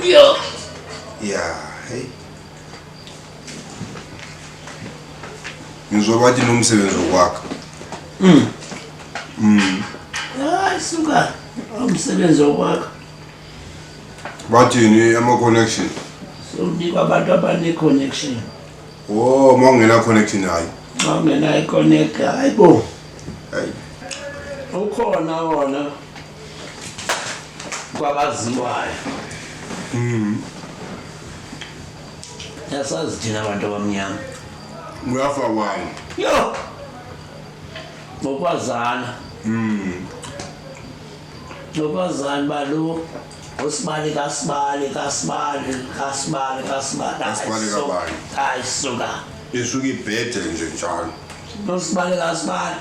Yeah. Yeah, hey. Ngizwa bathi nomsebenzi okwakha. Mm. Mm. Hayi suka. Umsebenzi okwakha. Bathini ama connection? So unikwa abantu abane connection. Oh, mawungena connection hayi. Mawungena i connect hayibo. Hayi. Ukhona wona. kwabaziwayo mm. yasazi thina abantu abamnyama uyafa wani yo ngokwazana mm. ngokwazana balo usibali kasibali kasibali kasibali kasibali kasibali kabani ayisuka isuka ibhede nje njalo usibali kasibali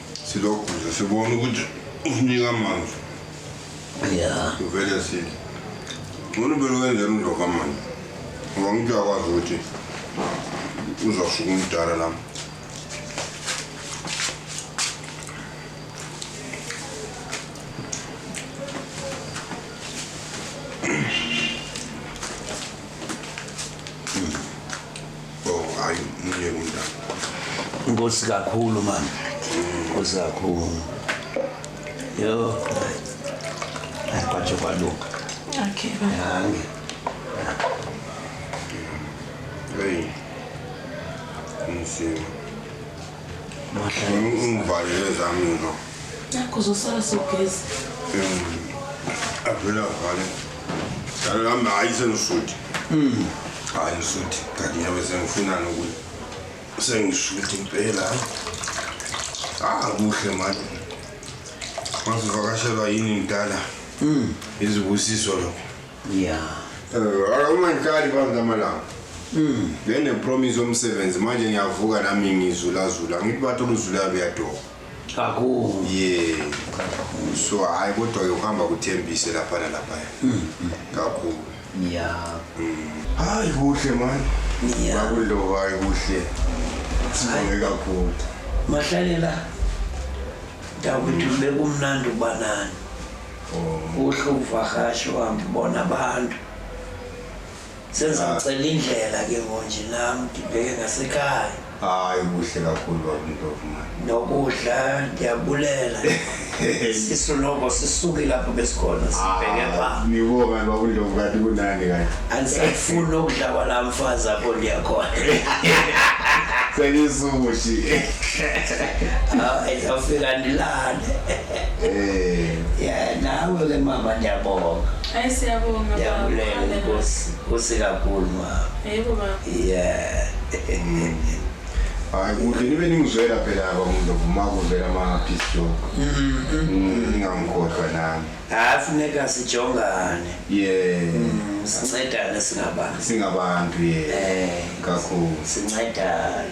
Siloguza sibona ukuthi usinika amanzi. Yeah. Uvele sithi. Ngone belo wenzela undoka manje. Ngoba ngithi uyakwazi ukuthi uzawusuka umdala nami. Oh hayi umunye kunjani. Inkosi kakhulu mama. Inkosi kakhulu. Yo. Kwaje kwaluka. Okay baba. Yange. Hey. Insimu. Ungivalele zami ngizwa. Nakho uzosala sogezi. Avela vale. Dalo lami hayi sengisuthi. Mm. Hayi ngisuthi. Kanti ngiyabe sengifuna nokuthi sengisuthi impela. Ah kuhle manje. Masivakashelwa yini mdala? Mm. Izibusiso lokho. ya Eh, uma ngiqali phansi amalanga benginepromise yomsebenzi manje ngiyavuka nami ngizulazula ngithi bathi oluzulayo luyadoba kakhulu ye so hhayi kodwa-ke ukuhamba kuthembise lapha nalaphaya kakhulu ya hayi kuhle mani Yeah. bakuloba hayi kuhle sibonge kakhulu mahlalela dakwethu bekumnandi ukuba nani uhluvakashe uhambe ubona abantu sengizamcela indlela ke ngonje nami ngibheke ngasekhaya hayi kuhle kakhulu babintovumani nokudla ndiyabulela sisu noko sisuke lapho besikhona sibheke ah, pha ngibonga babintovu kanti kunani kanti andisafuni ukudla kwala mfazi apho ndiyakhona sengisushi ah, ndiyafika ndilale Eh, yeah, nawe ke mama ndiyabonga. Hayi siyabonga. Ndiyabulela inkosi. Kusi kakhulu mama. Yebo baba. Yeah. hayi kuhle nibe ningizwela phela aba muntu uma kuvela ama-piece job Mm, ningangikhohlwa nami Hayi funeka sijongane. ye Mm, Sincedane singabantu. singabantu ye Eh, kakhulu sincedane.